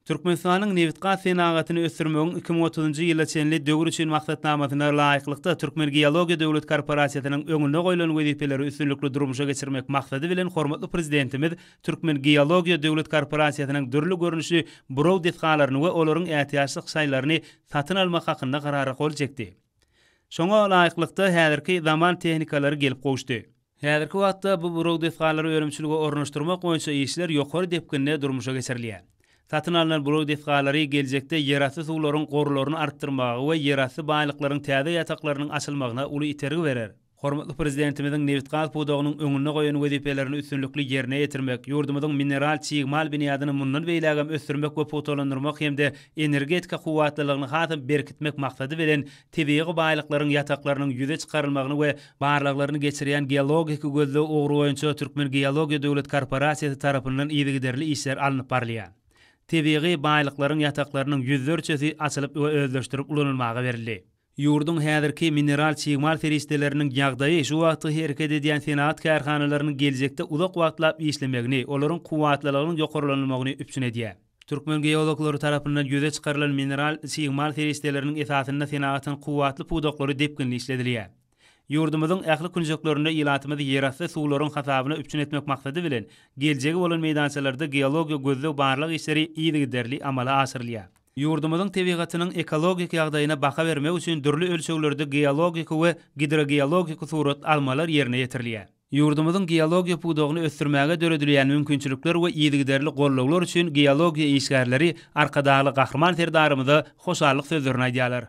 Türkmenistanyň nebitgaz senagatyny ösdürmegiň iki müň otuzynjy ýyla çenli döwri üçin maksatnamasyna laýyklykda Türkmengeologiýa döwlet korporasiýasynyň öňünde goýlan wezipeleri üstünlikli durmuşa geçirmek maksady bilen hormatly Prezidentimiz Türkmengeologiýa döwlet korporasiýasynyň dürli görnüşli buraw desgalaryny we olaryň ätiýaçlyk şaýlaryny satyn almak hakynda Karara gol çekdi. Şoňa laýyklykda, häzirki zaman tehnikalary gelip gowuşdy. Häzirki wagtda bu buraw desgalary önümçilige ornaşdyrmak boýunça işler ýokary depginde durmuşa geçirilýär. Satyn alnan buraw desgalary geljekde ýerasty suwlaryň gorlaryny artdyrmaga we ýerasty baýlyklaryň täze ýataklarynyň açylmagyna uly itergi berer. Hormatly Prezidentimiziň nebitgaz pudagynyň öňünde goýan wezipelerini üstünlikli ýerine ýetirmek, ýurdumyzyň mineral çig mal binýadyny mundan beýlägem ösdürmek we pugtalandyrmak hem-de energetika kuwwatlylygyny hasam berkitmek maksady bilen tebigy baýlyklaryň ýataklarynyň ýüze çykarylmagyny we barlaglaryny geçirýän Geologik gözleg ugry boýunça Türkmengeologiýa döwlet korporasiýasy tarapyndan yzygiderli işler alnyp barylýar. Tebigy baýlyklaryň ýataklarynyň ýüzlerçesi açylyp we özleşdirip ulanylmaga berildi. Ýurduň häzirki mineral çig mal serişdeleriniň ýagdaýy şu wagtky hereket edýän senagat kärhanalarynyň geljekde uzak wagtlap işlemegini, olaryň kuwwatlylygynyň ýokarlanylmagyny üpjün edýär. Türkmen geologlary tarapyndan ýüze çykarylan mineral çig-mal serişdeleriniň esasynda senagatyň kuwwatly pudaklary depginli işledilýär. Ýurdumyzyň ähli künjeklerinde ilatymyzy ýerasty suwlaryň hasabyna üpjün etmek maksady bilen, geljegi bolan meýdançalarda geologiýa gözleg-barlag işleri yzygiderli amala aşyrylýar. Ýurdumyzyň tebigatynyň ekologik ýagdaýyna baha bermek üçin dürli ölçeglerde geologik we gidrogeologik surat almalar ýerine ýetirilýär. Ýurdumyzyň geologiýa pudagyny ösdürmäge döredilýän mümkinçilikler we yzygiderli gollaglar üçin geologiýa işgärleri Arkadagly Gahryman Serdarymyza hoşallyk sözlerini aýdýarlar.